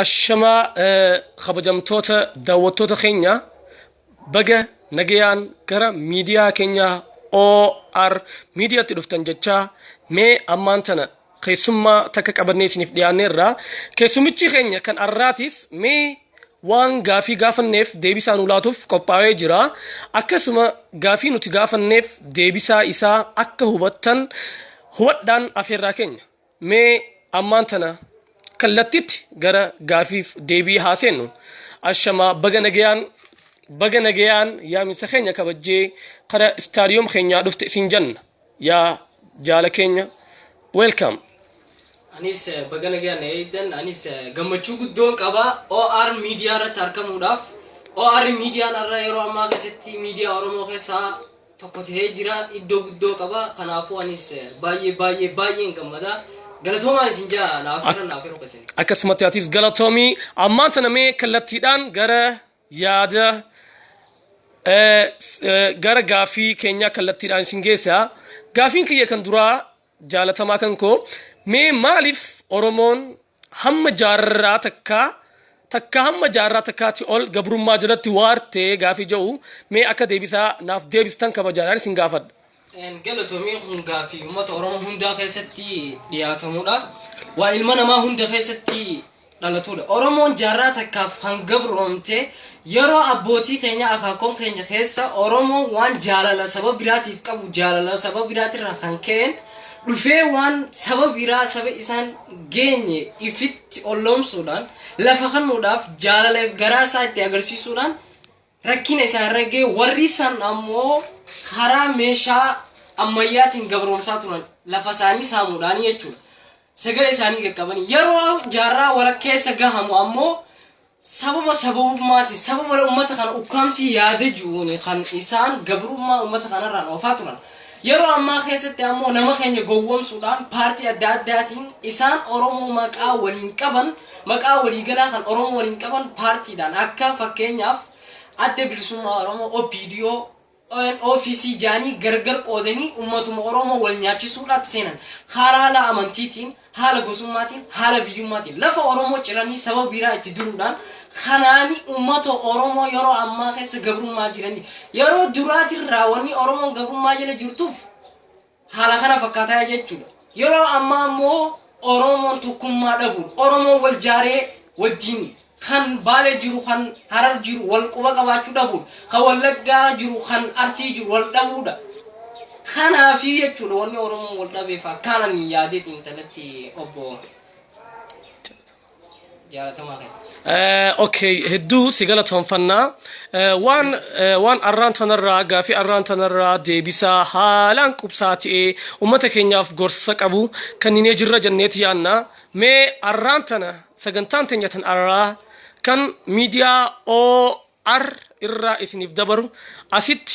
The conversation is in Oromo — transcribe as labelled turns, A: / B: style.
A: Ashamaa kabajamtoota daawwattoota keenya baga nagayaan gara miidiyaa keenya OR miidiyaatti dhuftan jechaa mee ammaan tana keessummaa takka qabannee isiniif dhiyaanneerra. Keessummichi keenya kan arraatis mee waan gaafii gaafanneef deebisaa nu laatuuf qophaa'ee jira. Akkasuma gaafii nuti gaafanneef deebisaa isaa akka hubattan hubadhaan afeerraa keenya. Mee ammaan tana kallattitti gara gaafiif deebii haa seennu. Ashamaa baga nagayaan baga nagayaan yaaminsa keenya kabajjee kara istaadiyoom keenyaa dhufte isin janna. Yaa jaala keenya welcome.
B: Anis eh, baga nagaa na eegdan anis eh, gammachuu guddoon qaba OR miidiyaa irratti argamuudhaaf OR miidiyaan irra yeroo ammaa keessatti miidiyaa Oromoo keessaa tokko tahee jira iddoo guddoo qaba kanaafuu anis baay'ee baay'ee baay'een gammada galatoomaan isin jaa naaf sirra naaf yeroo keessan akkasumatti atis galatoomii
A: ammaan tana mee kallattiidhaan gara yaada eh, s- eh, gara gaafii keenyaa kallattiidhaan isin geessa gaafiin kiyya kan duraa jaalatamaa kan koo mee maaliif oromoon hamma jaarraa takkaa takkaa hamma jaarraa takkaati ol gabrummaa jalatti waarte gaafii ja'u mee akka deebisaa naaf deebistan kabajaadhaan isin gaafadha. Galatoomii
B: kun gaafii ummata Oromoo hundaa keessatti dhiyaatamudha. Waan ilma namaa hunda keessatti dhalatudha. Oromoon jaarraa takkaaf kan gabroomte yeroo abbootii keenya akaakoon keenya keessa Oromoon waan jaalala saba biraatiif qabu jaalala saba biraatirraa kan ka'een dhufee waan saba biraa saba isaan geenye ifitti olloomsuudhaan lafa kannuudhaaf jaalala garaa isaa itti agarsiisuudhaan rakkina isaan irra ga'e warri san ammoo karaa meeshaa ammayyaatiin gabroomsaa turan lafa isaanii saamuudhaan jechuudha. Sagalee isaanii qaqqabanii yeroo jaarraa walakkeessa gahamu ammoo Sababa sababummaatiin, sababa ummata kana ukkaamsii yaada ji'uuni kan isaan gabrummaa ummata kanarraan oofaa turan. Yeroo ammaa keessatti ammoo nama keenya gowwomsuudhaan paartii adda addaatiin isaan Oromoo maqaa waliin qaban, maqaa waliigalaa kan Oromoo waliin qaban paartiidhaan akka fakkeenyaaf Adda Bilisummaa Oromoo, OPDO, ONO fi CJAN gargar qoodanii ummatuma Oromoo wal nyaachisuudhaatti seenan. Halaala amantiitiin, haala gosummaatiin, haala biyyummaatiin lafa Oromoo ciranii saba biraa itti diruudhaan kanaani ummata Oromoo yeroo ammaa keessa gabrummaa jiranii. Yeroo duraatirraa wanni Oromoon gabrummaa jala jirtuuf Haala kana fakkaataa jechuudha. Yeroo ammaa ammoo Oromoon tokkummaa dhabuun, Oromoon wal jaaree wajjin kan Baalee jiru, kan Harar jiru wal quba qabaachuu dhabuun, kan Wallaggaa jiru, kan Arsii jiru wal dhabuudha. Kanaafii jechuudha wanni Oromoon wal dhabeef akkaan ani yaadee xiinxaletti obbo jaalatamaa keenya. Eh, okay
A: hedduu si galatoomfannaa Eh, waan eh, waan arraan tanarraa gaafii arraan tanarraa deebisaa haalaan qubsaa ta'ee ummata keenyaaf gorsa qabu kanninee jirra jenneeti yaanna mee arraan tana sagantaan teenya tan arraa kan miidiyaa OR irraa isiniif dabaru asitti